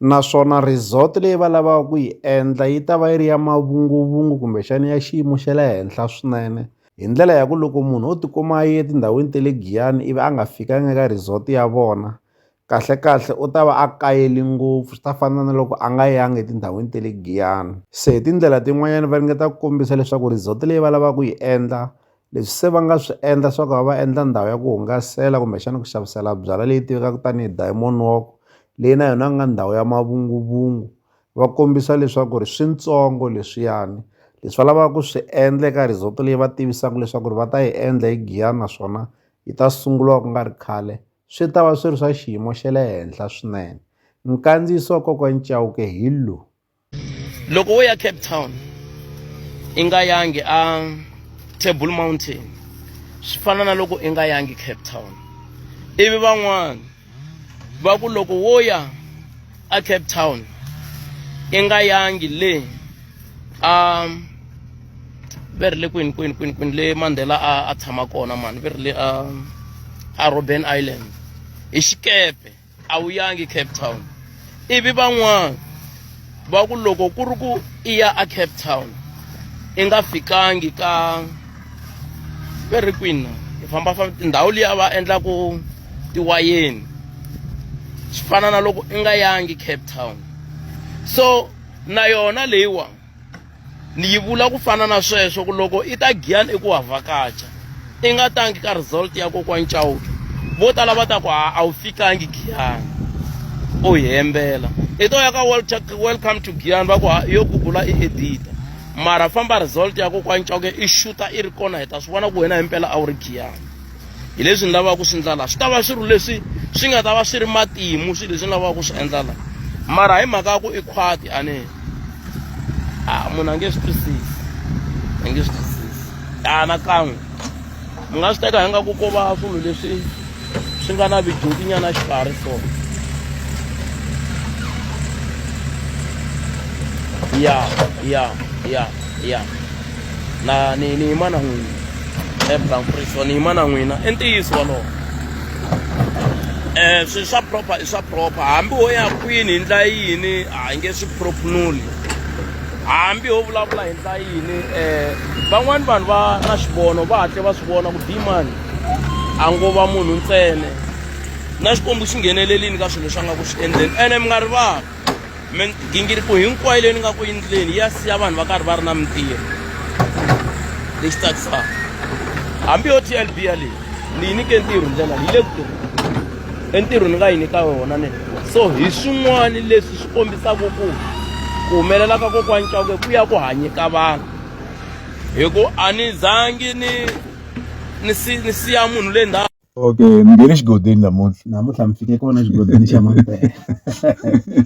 naswona resort leyi va lavaka ku yi endla yi ta va yi ri ya mavunguvungu kumbexana ya xiyimo xa le henhla swinene hi ndlela ya ku loko munhu o tikuma a ye etindhawini ta le Giyani ivi a nga fikanga eka resort ya vona kahlekahle u ta va a kayele ngopfu swi ta fana na loko a nga yangi etindhawini ta le Giyani se hi tindlela tin'wanyani va ringeta ku kombisa leswaku resort leyi va lava ku yi endla leswi se va nga swi endla swa ku va va endla ndhawu ya ku hungasela kumbexana ku xavisela byalwa leyi tivekaka tanihi diamond walk leyi na yona ku nga ndhawu ya mavunguvungu va kombisa leswaku ri swintsongo leswiyani leswi va lavaka ku swi endla eka resort leyi va tivisaka leswaku ri va ta yi endla hi Giyani naswona yi ta sunguriwa ku nga ri khale swi ta va swi ri swa xiyimo xa le henhla swinene nkandziyiso wa kokwana Chauke hi lowu. loko wo ya cape town i nga yangi a table mountain swi fana na loko i nga yangi cape town ivi van'wana va ku loko wo ya a cape town i nga yangi le a ve ri le kwini kwini kwini kwini le mandela a a tshama kona mani ve ri le a a robben island hi xikepe a wu yangi cape town ivi van'wana va ku loko ku ri ku i ya a cape town i nga fikangi ka ve ri kwini i famba famba tindhawu liya va endlaku tiwayeni swi fana na loko i nga yangi cape town so na yona leyiwani ni yi vula ku fana na sweswo ku loko i ta giyani i ku wa vhakacha i nga tangi ka result ya kokwana chauke vo tala va ta ku a wu fikangi giyani u hi hembela i to ya ka welcome to giyani va ku yo gugula i edita mara famba result ya kokwana chauke i xuta i ri kona hi ta swi vona ku wena himpela a wu ri giyani hi leswi ni lavaka ku swi endla laha swi ta va swilo leswi swi nga ta va swi ri matimu swilo leswi ni lavaka ku swi endla laha mara hi mhaka ya ku i khwati a ni a munhu a nge swi twisisi a nge swi twisisi anakan'we mi nga swi teka hi nga ku ko va swilo leswi swi nga na vidyutinyana xikarhi swona ya ya ya ya na ni ni yima na n'wina ebranfrison ni yima na n'wina i ntiyiso wolowo um swilo swa proper i swa proper hambi wo ya kwini hi ndla yini a hi nge swi propunuli hambi ho vulavula hi ndla yini um van'wani vanhu va na xivono va hatle va swi vona ku dimani a ngo va munhu ntsene na xikwembu xi nghenelelini ka swilo leswi a nga ku swi endleni ene mi nga rivali migingiriko hinkwayo leyi ni nga ku endleni ya siya vanhu va karhi va ri na mintirho lexi tsakisaka hambi yo tlb ya leyi ni yi nyike ntirho ndlela yi le ku tirheni entirho ni nga yi nyika yona ne so hi swin'wana leswi swi kombisaka ku ku humelela ka kokwani cawuke ku ya ku hanyeka vanhu hi ku a ni zangi ni ni si ni siya munhu le ndhawu okay mi nge le xigodini namuntlha namuntlha mi fike kona xigodini xa mapela